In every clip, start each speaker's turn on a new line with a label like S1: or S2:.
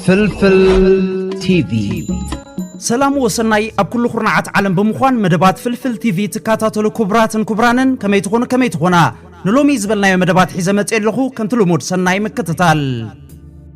S1: ፍልፍል ቲቪ ሰላም
S2: ወሰናይ ኣብ ኩሉ ኩርናዓት ዓለም ብምዃን መደባት ፍልፍል ቲቪ ትከታተሉ ክቡራትን ክቡራንን ከመይ ትኾኑ ከመይ ትኾና ንሎሚ ዝበልናዮ መደባት ሒዘ መፅእ ኣለኹ ከምቲ ልሙድ ሰናይ ምክትታል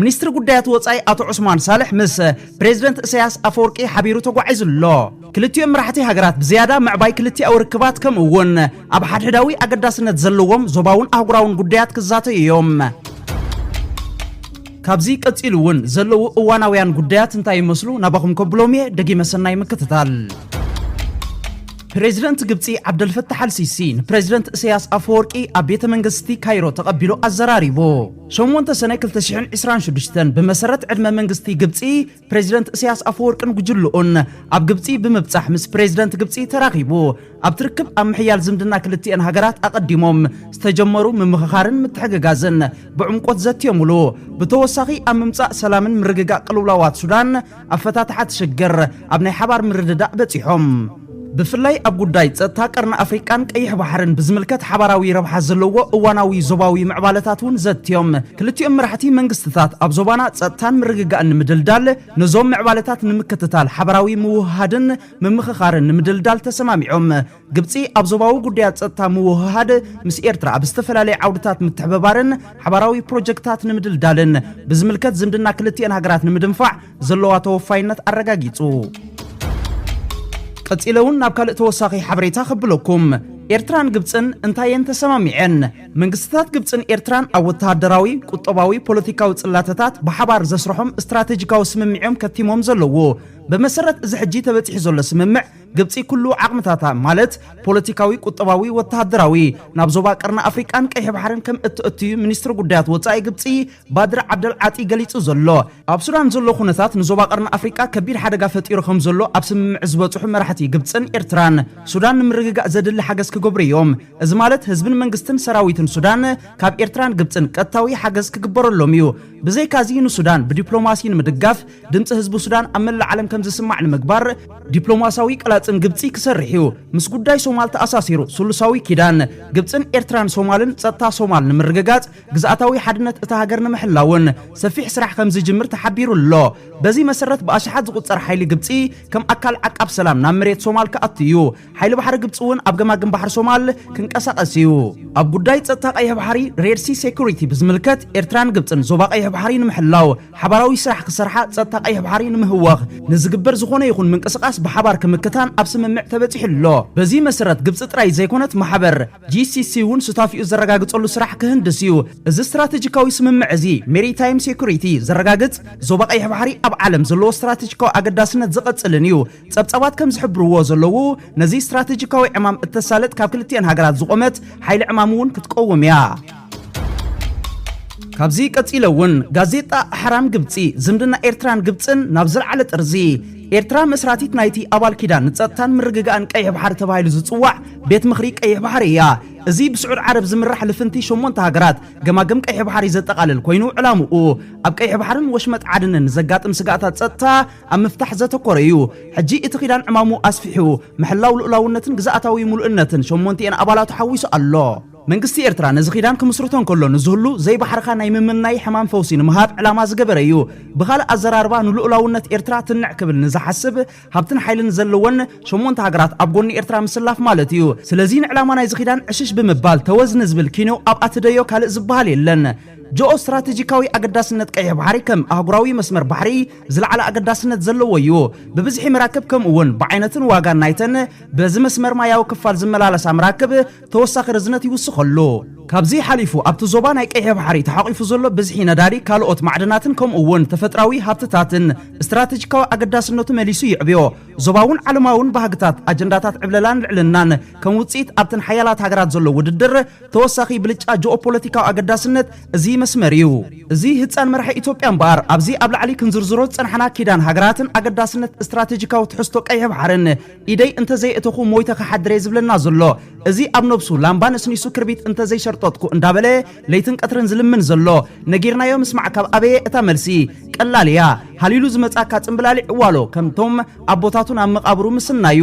S2: ሚኒስትሪ ጉዳያት ወፃኢ ኣቶ ዑስማን ሳልሕ ምስ ፕሬዚደንት እሰያስ ኣፈወርቂ ሓቢሩ ተጓዒዙ ኣሎ። ክልቲኦም መራሕቲ ሃገራት ብዝያዳ ምዕባይ ክልቲኣዊ ርክባት ከምኡ እውን ኣብ ሓድሕዳዊ ኣገዳስነት ዘለዎም ዞባውን ኣህጉራውን ጉዳያት ክዛተዩ እዮም። ካብዚ ቀፂሉ እውን ዘለዉ እዋናውያን ጉዳያት እንታይ ይመስሉ ናባኹም ከብሎም እየ ደጊመ ሰናይ ምክትታል ፕሬዚደንት ግብፂ ዓብደልፈታሕ ኣልሲሲ ንፕሬዚደንት እሰያስ ኣፈወርቂ ኣብ ቤተ መንግስቲ ካይሮ ተቐቢሉ ኣዘራሪቡ ሸሞንተ ሰነ ክልተ ሽሕን ዕስራን ሽዱሽተን ብመሰረት ዕድመ መንግስቲ ግብፂ ፕሬዚደንት እስያስ ኣፈወርቅን ጉጅልኡን ኣብ ግብፂ ብምብፃሕ ምስ ፕሬዚደንት ግብፂ ተራኺቡ ኣብቲ ርክብ ኣብ ምሕያል ዝምድና ክልቲኤን ሃገራት ኣቐዲሞም ዝተጀመሩ ምምኽኻርን ምትሕግጋዝን ብዕምቆት ዘትዮምሉ ብተወሳኺ ኣብ ምምፃእ ሰላምን ምርግጋእ ቅልውላዋት ሱዳን ኣፈታትሓ እቲ ሽግር ኣብ ናይ ሓባር ምርድዳእ በጺሖም። ብፍላይ ኣብ ጉዳይ ጸጥታ ቀርኒ ኣፍሪቃን ቀይሕ ባሕርን ብዝምልከት ሓባራዊ ረብሓ ዘለዎ እዋናዊ ዞባዊ ምዕባለታት እውን ዘትዮም። ክልቲኦም መራሕቲ መንግስትታት ኣብ ዞባና ጸጥታን ምርግጋእን ንምድልዳል ነዞም ምዕባለታት ንምክትታል ሓባራዊ ምውህሃድን ምምኽኻርን ንምድልዳል ተሰማሚዖም። ግብፂ ኣብ ዞባዊ ጉዳያት ፀጥታ ምውህሃድ ምስ ኤርትራ ኣብ ዝተፈላለዩ ዓውድታት ምትሕብባርን ሓባራዊ ፕሮጀክታት ንምድልዳልን ብዝምልከት ዝምድና ክልቲኤን ሃገራት ንምድንፋዕ ዘለዋ ተወፋይነት ኣረጋጊፁ። ቀፂለ እውን ናብ ካልእ ተወሳኺ ሓበሬታ ከብለኩም ኤርትራን ግብፅን እንታየን ተሰማሚዐን? መንግስትታት ግብፅን ኤርትራን ኣብ ወተሃደራዊ፣ ቁጠባዊ፣ ፖለቲካዊ ፅላተታት ብሓባር ዘስርሖም ስትራቴጂካዊ ስምምዕ እዮም ከቲሞም ዘለዉ። ብመሰረት እዚ ሕጂ ተበፂሑ ዘሎ ስምምዕ ግብጺ ኩሉ ዓቕምታታ ማለት ፖለቲካዊ፣ ቁጠባዊ፣ ወተሃደራዊ ናብ ዞባ ቀርኒ ኣፍሪቃን ቀይሕ ባሕርን ከም እተእቱ'ዩ ሚኒስትሪ ጉዳያት ወጻኢ ግብጺ ባድር ዓብደል ዓጢ ገሊጹ ዘሎ። ኣብ ሱዳን ዘሎ ኩነታት ንዞባ ቀርኒ ኣፍሪቃ ከቢድ ሓደጋ ፈጢሩ ከም ዘሎ ኣብ ስምምዕ ዝበጽሑ መራሕቲ ግብጽን ኤርትራን፣ ሱዳን ንምርግጋእ ዘድሊ ሓገዝ ክገብሩ'ዮም። እዚ ማለት ህዝብን መንግስትን ሰራዊትን ሱዳን ካብ ኤርትራን ግብጽን ቀጥታዊ ሓገዝ ክግበረሎም'ዩ። ብዘይካ'ዚ ንሱዳን ብዲፕሎማሲ ንምድጋፍ ድምፂ ህዝቢ ሱዳን ኣብ መላእ ዓለም ከም ዝስማዕ ንምግባር ዲፕሎማሲያዊ ቀላፅም ግብፂ ክሰርሕ እዩ። ምስ ጉዳይ ሶማል ተኣሳሲሩ ስሉሳዊ ኪዳን ግብፅን ኤርትራን ሶማልን ፀጥታ ሶማል ንምርግጋፅ ግዝኣታዊ ሓድነት እታ ሃገር ንምሕላውን ሰፊሕ ስራሕ ከም ዝጅምር ተሓቢሩ ኣሎ። በዚ መሰረት ብኣሽሓት ዝቑፀር ሓይሊ ግብፂ ከም ኣካል ዓቃብ ሰላም ናብ መሬት ሶማል ክኣቱ እዩ። ሓይሊ ባሕሪ ግብፂ እውን ኣብ ገማግም ባሕሪ ሶማል ክንቀሳቐስ እዩ። ኣብ ጉዳይ ፀጥታ ቀይሕ ባሕሪ ሬድሲ ሴኩሪቲ ብዝምልከት ኤርትራን ግብፅን ዞባ ቀይሕ ባሕሪ ንምሕላው ሓባራዊ ስራሕ ክሰርሓ ፀጥታ ቀይሕ ባሕሪ ንምህዋኽ ንዝግበር ዝኾነ ይኹን ምንቅስቓስ ብሓባር ክምክታን ኣብ ስምምዕ ተበፂሑ ኣሎ። በዚ መሰረት ግብፂ ጥራይ ዘይኮነት ማሕበር GCC እውን ሱታፊኡ ዘረጋግፀሉ ስራሕ ክህንድስ እዩ። እዚ ስትራቴጂካዊ ስምምዕ እዚ ሜሪታይም ሴኩሪቲ ዘረጋግፅ፣ ዞባ ቀይሕ ባሕሪ ኣብ ዓለም ዘለዎ ስትራቴጂካዊ ኣገዳስነት ዝቐፅልን እዩ። ጸብጻባት ከም ዝሕብርዎ ዘለዉ፣ ነዚ ስትራተጂካዊ ዕማም እተሳልጥ ካብ ክልቲኤን ሃገራት ዝቖመት ሓይሊ ዕማም እውን ክትቀውም እያ። ካብዚ ቀጺለ እውን ጋዜጣ ኣሕራም ግብጺ ዝምድና ኤርትራን ግብጽን ናብ ዝለዓለ ጥርዚ ኤርትራ መስራቲት ናይቲ ኣባል ኪዳን ንጸጥታን ምርግጋእን ቀይሕ ባሕሪ ተባሂሉ ዝጽዋዕ ቤት ምኽሪ ቀይሕ ባሕሪ እያ። እዚ ብስዑድ ዓረብ ዝምራሕ ልፍንቲ ሸሞንተ ሃገራት ገማግም ቀይሕ ባሕሪ ዘጠቓልል ኮይኑ ዕላምኡ ኣብ ቀይሕ ባሕርን ወሽመጥ ዓድንን ንዘጋጥም ስጋእታት ጸጥታ ኣብ ምፍታሕ ዘተኮረ እዩ። ሕጂ እቲ ኪዳን ዕማሙ ኣስፊሑ፣ ምሕላው ልኡላውነትን ግዝኣታዊ ምሉእነትን ሸሞንቲኤን ኣባላቱ ሓዊሱ ኣሎ። መንግስቲ ኤርትራ ነዚ ኪዳን ክምስርቶ እንከሎ ንዝህሉ ዘይባሕርኻ ናይ ምምናይ ሕማም ፈውሲ ንምሃብ ዕላማ ዝገበረ እዩ። ብኻልእ ኣዘራርባ ንልኡላውነት ኤርትራ ትንዕ ክብል ንዝሓስብ፣ ሃብትን ሓይልን ዘለወን ሸሞንተ ሃገራት ኣብ ጎኒ ኤርትራ ምስላፍ ማለት እዩ። ስለዚ ንዕላማ ናይዚ ኪዳን ዕሽሽ ብምባል ተወዝ ንዝብል ኪኖ ኣብ ኣትደዮ ካልእ ዝበሃል የለን። ጆኦ ስትራተጂካዊ ኣገዳስነት ቀይሕ ባሕሪ ከም ኣህጉራዊ መስመር ባሕሪ፣ ዝለዓለ ኣገዳስነት ዘለዎ እዩ። ብብዝሒ መራክብ ከምኡ እውን ብዓይነትን ዋጋን ናይተን በዚ መስመር ማያዊ ክፋል ዝመላለሳ መራክብ ተወሳኺ ርዝነት ይውስኸሉ። ካብዚ ሓሊፉ ኣብቲ ዞባ ናይ ቀይሕ ባሕሪ ተሓቚፉ ዘሎ ብዝሒ ነዳዲ፣ ካልኦት ማዕድናትን ከምኡ እውን ተፈጥራዊ ሃብትታትን ስትራተጂካዊ ኣገዳስነቱ መሊሱ የዕብዮ። ዞባውን ዓለማውን ባህግታት ኣጀንዳታት ዕብለላን ልዕልናን ከም ውጽኢት ኣብተን ሓያላት ሃገራት ዘሎ ውድድር ተወሳኺ ብልጫ ጂኦፖለቲካዊ ኣገዳስነት እዚ መስመር እዩ። እዚ ህፃን መራሒ ኢትዮጵያ እምበኣር ኣብዚ ኣብ ላዕሊ ክንዝርዝሮ ዝፀናሕና ኪዳን ሃገራትን ኣገዳስነት እስትራቴጂካዊ ትሕዝቶ ቀይሕ ባሕርን ኢደይ እንተዘየእተኹ ሞይተ ክሓድር እየ ዝብለና ዘሎ እዚ ኣብ ነብሱ ላምባ ነስኒሱ ክርቢት እንተዘይሸርጠጥኩ እንዳበለ ለይትን ቀትርን ዝልምን ዘሎ ነጊርናዮ ምስማዕ ካብ ኣበየ እታ መልሲ ቀላል እያ ሃሊሉ ዝመፅኣካ ፅምብላሊዕ እዋሎ ከምቶም ኣቦታቱ ናብ መቓብሩ ምስናዩ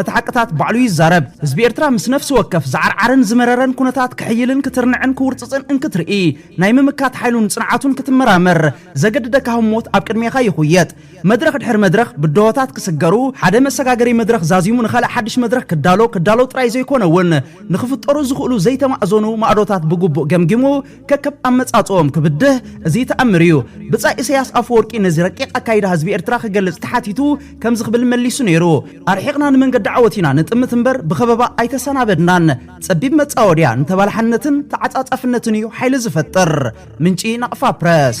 S2: እቲ ሓቅታት ባዕሉ ይዛረብ። ህዝቢ ኤርትራ ምስ ነፍሲ ወከፍ ዝዓርዓረን ዝመረረን ኩነታት ክሕይልን ክትርንዕን ክውርጽጽን እንክትርኢ፣ ናይ ምምካት ሓይሉን ጽንዓቱን ክትመራመር ዘገድደካ ህሞት ኣብ ቅድሜኻ ይኹየጥ። መድረኽ ድሕሪ መድረኽ ብድሆታት ክስገሩ፣ ሓደ መሰጋገሪ መድረኽ ዛዚሙ ንኻልእ ሓድሽ መድረኽ ክዳሎ ክዳሎ ጥራይ ዘይኮነውን ንኽፍጠሩ ዝኽእሉ ዘይተማእዘኑ ማእዶታት ብግቡእ ገምጊሙ፣ ከከም ኣመጻጽኦም ክብድህ እዚ ተኣምር እዩ። ብጻይ ኢሰያስ ኣፈወርቂ ነዚ ረቂቕ ኣካይዳ ህዝቢ ኤርትራ ክገልጽ ተሓቲቱ ከምዚ ክብል መሊሱ ነይሩ፣ ኣርሒቕና ንመንገዲ ዓወት ኢና ንጥምት እምበር ብኸበባ ኣይተሰናበድናን። ጸቢብ መጻወድያ ንተባላሓነትን ተዓጻጻፍነትን እዩ ሓይሊ ዝፈጥር። ምንጪ ናቕፋ ፕረስ።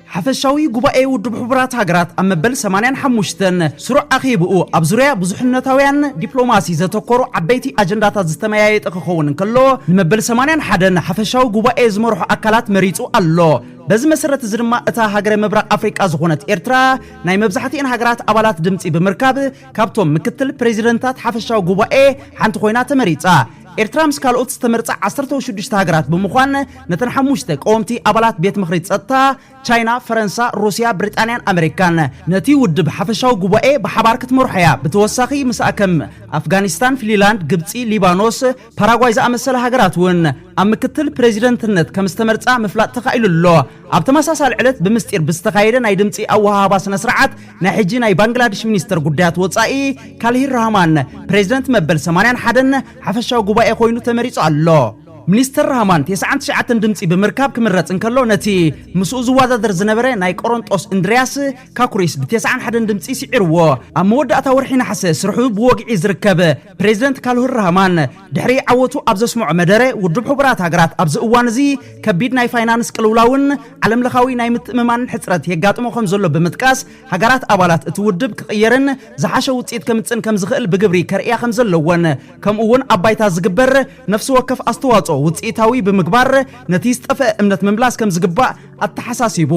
S2: ሓፈሻዊ ጉባኤ ውድብ ሕቡራት ሃገራት ኣብ መበል 85 ስሩዕ ኣኼብኡ ኣብ ዙርያ ብዙሕነታውያን ዲፕሎማሲ ዘተኮሩ ዓበይቲ ኣጀንዳታት ዝተመያየጠ ክኸውን እንከሎ ንመበል 81 ሓፈሻዊ ጉባኤ ዝመርሑ ኣካላት መሪጹ ኣሎ። በዚ መሰረት እዚ ድማ እታ ሃገረ ምብራቕ ኣፍሪቃ ዝኾነት ኤርትራ ናይ መብዛሕትኤን ሃገራት ኣባላት ድምፂ ብምርካብ ካብቶም ምክትል ፕሬዚደንታት ሓፈሻዊ ጉባኤ ሓንቲ ኮይና ተመሪፃ። ኤርትራ ምስ ካልኦት ዝተመርጻ ዓሰርተው ሽዱሽተ ሃገራት ብምዃን ነተን ሓሙሽተ ቀወምቲ ኣባላት ቤት ምኽሪ ጸጥታ፣ ቻይና፣ ፈረንሳ፣ ሩስያ፣ ብሪጣንያን ኣመሪካን፣ ነቲ ውድብ ሓፈሻዊ ጉባኤ ብሓባር ክትመርሖ እያ። ብተወሳኺ ምስኣ ከም ኣፍጋኒስታን፣ ፍሊላንድ፣ ግብጺ፣ ሊባኖስ፣ ፓራጓይ ዝኣመሰላ ሃገራት እውን ኣብ ምክትል ፕረዚደንትነት ከም ዝተመርጻ ምፍላጥ ተኻኢሉ ኣሎ። ኣብ ተመሳሳሊ ዕለት ብምስጢር ብዝተኻየደ ናይ ድምፂ ኣወሃህባ ስነ ስርዓት ናይ ሕጂ ናይ ባንግላድሽ ሚኒስተር ጉዳያት ወፃኢ ካልሂር ራህማን ፕሬዚደንት መበል 81 ሓፈሻዊ ጉባኤ ኮይኑ ተመሪፁ ኣሎ። ሚኒስተር ራህማን ቴስዓን ትሽዓተን ድምፂ ብምርካብ ክምረፅ እንከሎ ነቲ ምስኡ ዝወዳደር ዝነበረ ናይ ቆሮንጦስ እንድርያስ ካኩሪስ ብቴስዓን ሓደን ድምፂ ስዒርዎ። ኣብ መወዳእታ ወርሒ ነሓሰ ስርሑ ብወግዒ ዝርከብ ፕሬዚደንት ካልሁር ራህማን ድሕሪ ዓወቱ ኣብ ዘስምዖ መደረ፣ ውድብ ሕቡራት ሃገራት ኣብዚ እዋን እዚ ከቢድ ናይ ፋይናንስ ቅልውላውን ዓለምለኻዊ ናይ ምትእምማንን ሕጽረት የጋጥሞ ከም ዘሎ ብምጥቃስ፣ ሃገራት ኣባላት እቲ ውድብ ክቕየርን ዝሓሸ ውጽኢት ከምጽእን ከም ዝኽእል ብግብሪ ከርእያ ከም ዘለወን ከምኡ'ውን ኣብ ባይታ ዝግበር ነፍሲ ወከፍ ኣስተዋጽኦ ውጽኢታዊ ብምግባር ነቲ ዝጠፍአ እምነት ምምላስ ከም ዝግባእ ኣተሓሳሲቡ።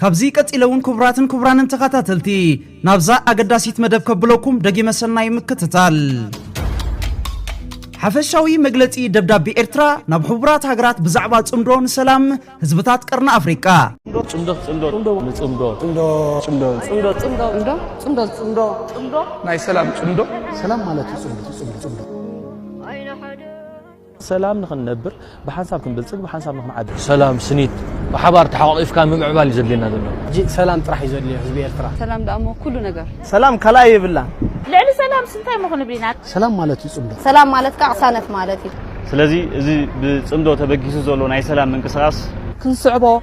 S2: ካብዚ ቀጺለ ውን ኩቡራትን ኩቡራንን ተኻታተልቲ ናብዛ ኣገዳሲት መደብ ከብሎኩም ደጊመ ሰናይ ምክትታል። ሓፈሻዊ መግለጺ ደብዳቤ ኤርትራ ናብ ሕቡራት ሃገራት ብዛዕባ ጽምዶ ንሰላም ህዝብታት ቀርኒ ኣፍሪቃ። ናይ ሰላም ጽምዶ
S3: ሰላም ማለት እዩ ጽምዶ
S4: ሰላም ንኽንነብር ብሓንሳብ ክንብልጽግ ብሓንሳብ ንኽንዓቢ። ሰላም ስኒት ብሓባር ተሓቋቒፍካ ምምዕባል እዩ ዘድልየና ዘሎ። ሕጂ ሰላም ጥራሕ እዩ
S3: ዘድልዮ ህዝቢ ኤርትራ። ሰላም ደኣ እሞ ኩሉ
S5: ነገር። ሰላም ካልኣይ የብላን።
S3: ልዕሊ ሰላምስ
S5: እንታይ እሞ ክንብል ኢና። ሰላም ማለት እዩ ጽምዶ።
S3: ሰላም ማለት ከኣ ቅሳነት
S5: ማለት እዩ። ስለዚ እዚ
S6: ብጽምዶ ተበጊሱ ዘሎ ናይ ሰላም ምንቅስቓስ። ክንስዕቦ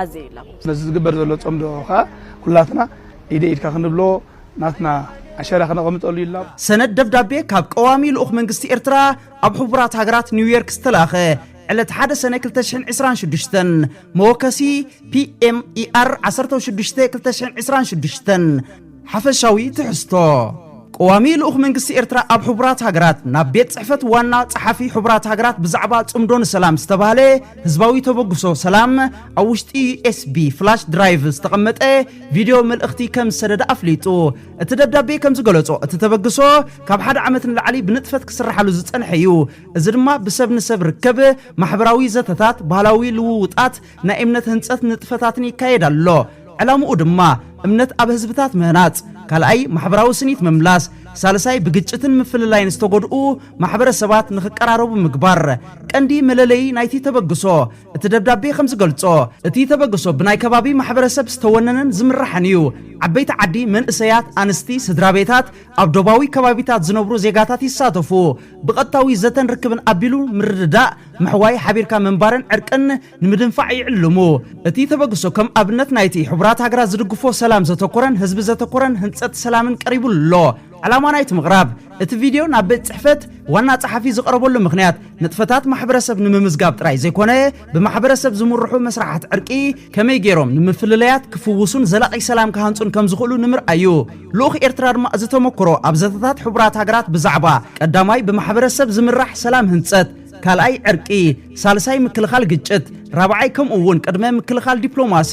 S5: ኣዘዩሎም። ነዚ ዝግበር ዘሎ
S3: ጸምዶ ከኣ ኩላትና ኢደይ ኢድካ ክንብሎ ናትና ኣሸራ ከነቐምጠሉ ይላቦ። ሰነድ ደብዳቤ ካብ
S2: ቀዋሚ ልኡኽ መንግስቲ ኤርትራ ኣብ ሕቡራት ሃገራት ኒውዮርክ ዝተላእኸ ዕለት ሓደ ሰነ ክልተ ሽሕን ዕስራን ሽዱሽተን፣ መወከሲ፣ PMER ዓሰርተው ሽዱሽተ ክልተ ሽሕን ዕስራን ሽዱሽተን፣ ሓፈሻዊ ትሕዝቶ ቀዋሚ ልኡኽ መንግስቲ ኤርትራ ኣብ ሕቡራት ሃገራት ናብ ቤት ጽሕፈት ዋና ጸሓፊ ሕቡራት ሃገራት ብዛዕባ ጽምዶ ንሰላም ዝተባህለ ህዝባዊ ተበግሶ ሰላም ኣብ ውሽጢ ዩኤስቢ ፍላሽ ድራይቭ ዝተቐመጠ ቪድዮ መልእኽቲ ከም ዝሰደደ ኣፍሊጡ። እቲ ደብዳቤ ከም ዝገለጾ እቲ ተበግሶ ካብ ሓደ ዓመት ንላዕሊ ብንጥፈት ክስርሓሉ ዝጸንሐ እዩ። እዚ ድማ ብሰብ ንሰብ ርከብ፣ ማሕበራዊ ዘተታት፣ ባህላዊ ልውውጣት፣ ናይ እምነት ህንጸት ንጥፈታትን ይካየድ ኣሎ። ዕላምኡ ድማ እምነት ኣብ ህዝብታት ምህናጽ፣ ካልኣይ ማሕበራዊ ስኒት ምምላስ፣ ሳልሳይ ብግጭትን ምፍልላይን ዝተጎድኡ ማሕበረሰባት ንኽቀራረቡ ምግባር ቀንዲ መለለዪ ናይቲ ተበግሶ እቲ ደብዳቤ ከም ዝገልጾ እቲ ተበግሶ ብናይ ከባቢ ማሕበረሰብ ዝተወነነን ዝምራሕን እዩ። ዓበይቲ ዓዲ፣ መንእሰያት፣ ኣንስቲ፣ ስድራቤታት፣ ኣብ ዶባዊ ከባቢታት ዝነብሩ ዜጋታት ይሳተፉ። ብቐጥታዊ ዘተን ርክብን ኣቢሉ ምርድዳእ፣ ምሕዋይ፣ ሓቢርካ ምንባርን ዕርቅን ንምድንፋዕ ይዕልሙ። እቲ ተበግሶ ከም ኣብነት ናይቲ ሕቡራት ሃገራት ዝድግፎ ሰላም ዘተኮረን ህዝቢ ዘተኮረን ህንጸት ሰላምን ቀሪቡ ኣሎ። ዕላማ ናይቲ ምቕራብ እቲ ቪድዮ ናብ ቤት ጽሕፈት ዋና ጸሓፊ ዝቐረበሉ ምኽንያት ንጥፈታት ማሕበረሰብ ንምምዝጋብ ጥራይ ዘይኮነ፣ ብማሕበረሰብ ዝምርሑ መስራሓት ዕርቂ ከመይ ገይሮም ንምፍልለያት ክፍውሱን ዘላቒ ሰላም ክሃንጹን ከም ዝኽእሉ ንምርኣይ እዩ። ልኡኽ ኤርትራ ድማ እዚ ተመክሮ ኣብ ዘተታት ሕቡራት ሃገራት ብዛዕባ ቀዳማይ ብማሕበረሰብ ዝምራሕ ሰላም ህንጸት፣ ካልኣይ ዕርቂ፣ ሳልሳይ ምክልኻል ግጭት፣ ራብዓይ ከምኡ እውን ቅድመ ምክልኻል ዲፕሎማሲ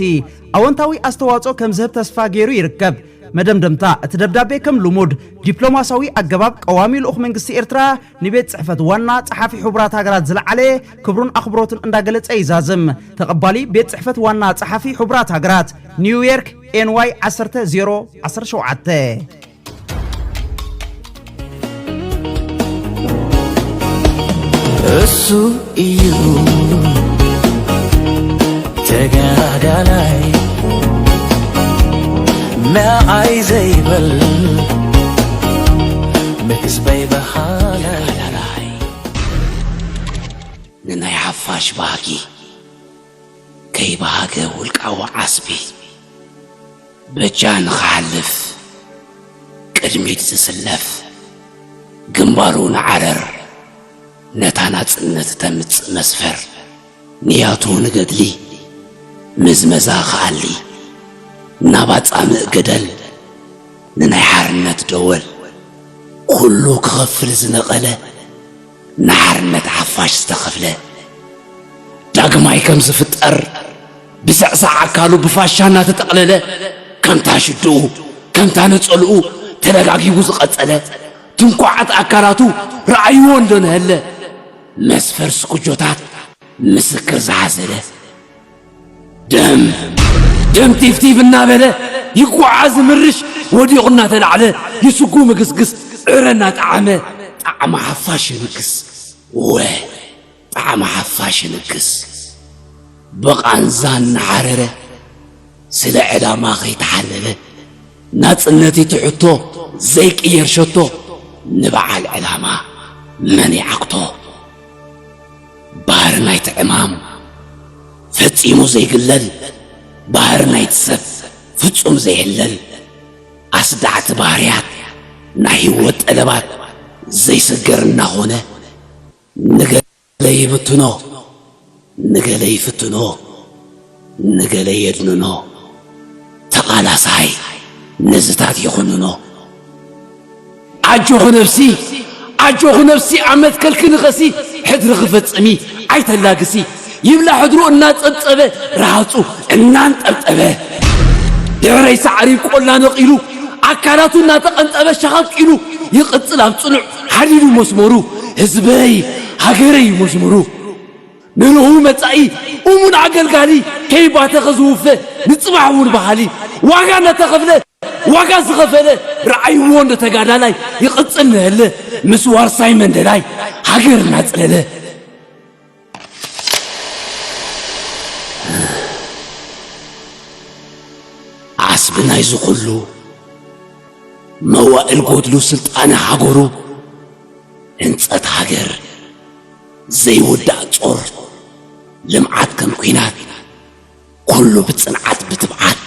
S2: ኣወንታዊ ኣስተዋጽኦ ከም ዝህብ ተስፋ ገይሩ ይርከብ። መደምደምታ እቲ ደብዳቤ ከም ልሙድ ዲፕሎማስያዊ ኣገባብ ቀዋሚ ልኡኽ መንግስቲ ኤርትራ ንቤት ጽሕፈት ዋና ጸሓፊ ሕቡራት ሃገራት ዝለዓለ ክብሩን ኣኽብሮትን እንዳገለጸ ይዛዝም። ተቐባሊ ቤት ጽሕፈት ዋና ጸሓፊ ሕቡራት ሃገራት፣ ኒውዮርክ፣ NY 10 0 17። እሱ
S7: ተጋዳላይ ንዓይ ዘይበል ንህዝበይ በሃላይ ንናይ ሓፋሽ ባህጊ ከይበሃገ ውልቃዊ ዓስቢ በጃ ንኽሓልፍ ቅድሚት ዝስለፍ ግንባሩ ንዓረር ነታ ናጽነት እተምጽእ መስፈር ንያቱ ንገድሊ ምዝመዛ ክኣሊ ናብ ኣጻምእ ገደል ንናይ ሓርነት ደወል ኩሉ ክኸፍል ዝነቐለ ንሓርነት ሓፋሽ ዝተኸፍለ ዳግማይ ከም ዝፍጠር ብስዕሳዕ ኣካሉ ብፋሻ እናተጠቕለለ ከምታ ሽድኡ ከምታ ነጸልኡ ተደጋጊቡ ዝቐጸለ ትንኳዓት ኣካላቱ ረኣይዎ እንዶ ነሀለ መስፈር ስኩጆታት ምስክር ዝሓዘለ ደም ደም ቲፍቲፍ እናበለ ይጓዓዝ ምርሽ ወዲቑ እናተላዕለ ይስጉ ምግስግስ ዕረ እናጠዓመ ጣዕሚ ሓፋሽ የንግስ ወ ጣዕሚ ሓፋሽ ይንክስ ብቓንዛ እናሓረረ ስለ ዕላማ ከይተሓለለ ናጽነትይ ትሕቶ ዘይቅየር ሸቶ ንበዓል ዕላማ መን ይዓግቶ ባህሪ ናይቲ ዕማም ፈጺሙ ዘይግለል ባህሪ ናይቲ ሰብ ፍጹም ዘይሕለል ኣስዳዕቲ ባህርያት ናይ ህይወት ጠለባት ዘይስገር እናኾነ ንገለ ይብትኖ ንገለ ይፍትኖ ንገለ የድንኖ ተቓላሳይ ነዝታት ይኹንኖ ኣጆኺ ነብሲ ኣጆኺ ነብሲ ኣብ መትከልኪ ንኸሲ ሕድሪ ክፍጽሚ ኣይተላግሲ ይብላ ሕድሩ እናጸብጸበ ረሃጹ እናንጠብጠበ ድሕረይ ሳዕሪ ቆላ ነቒሉ ኣካላቱ እናተቐንጠበ ሸኸፍ ኢሉ ይቕጽል ኣብ ጽኑዕ ሓዲዱ መስመሩ ህዝበይ ሃገረይ መዝሙሩ ንርሁው መጻኢ እሙን ኣገልጋሊ ከይባተኸ ዝውፈ ንጽባሕ እውን በሃሊ ዋጋ እናተኸፍለ ዋጋ ዝኸፈለ ርዓይ ወንዶ ተጋዳላይ ይቕጽል ንህለ ምስ ዋርሳይ መንደላይ ሃገር እናጽለለ ዓስቢ ናይዚ ኩሉ መዋእል ጎድሉ ስልጣነ ሃገሩ ህንጸት ሃገር ዘይውዳእ ጾር ልምዓት ከም ኲናት ኩሉ ብጽንዓት ብትብዓት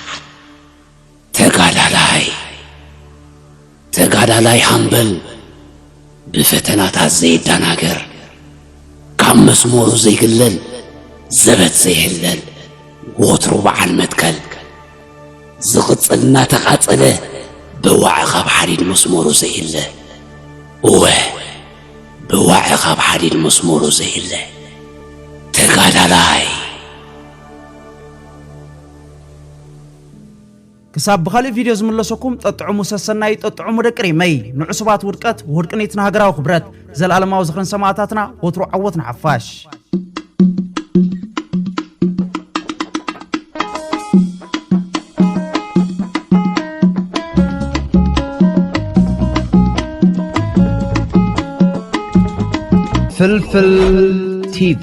S7: ተጋዳላይ ተጋዳላይ ሃምበል ብፈተናታት ዘይዳናገር ካብ መስመሩ ዘይግለል ዘበት ዘይህለል ወትሩ በዓል መትከል ዝቕጽል እናተቓጸለ ብዋዕ ካብ ሓዲድ መስመሩ ዘይለ እወ ብዋዕ ካብ ሓዲድ መስመሩ ዘይለ ተጋዳላይ
S2: ክሳብ ብኻልእ ቪድዮ ዝምለሰኩም ጠጥዕሙ ሰሰናዩ ጠጥዕሙ ደቂ ሪመይ ንዕሱባት ውድቀት ወድቅኒት ንሃገራዊ ክብረት ዘልኣለማዊ ዝኽርን ሰማእታትና ወትሩ ዓወት ንሓፋሽ
S1: ፍልፍል ቲቪ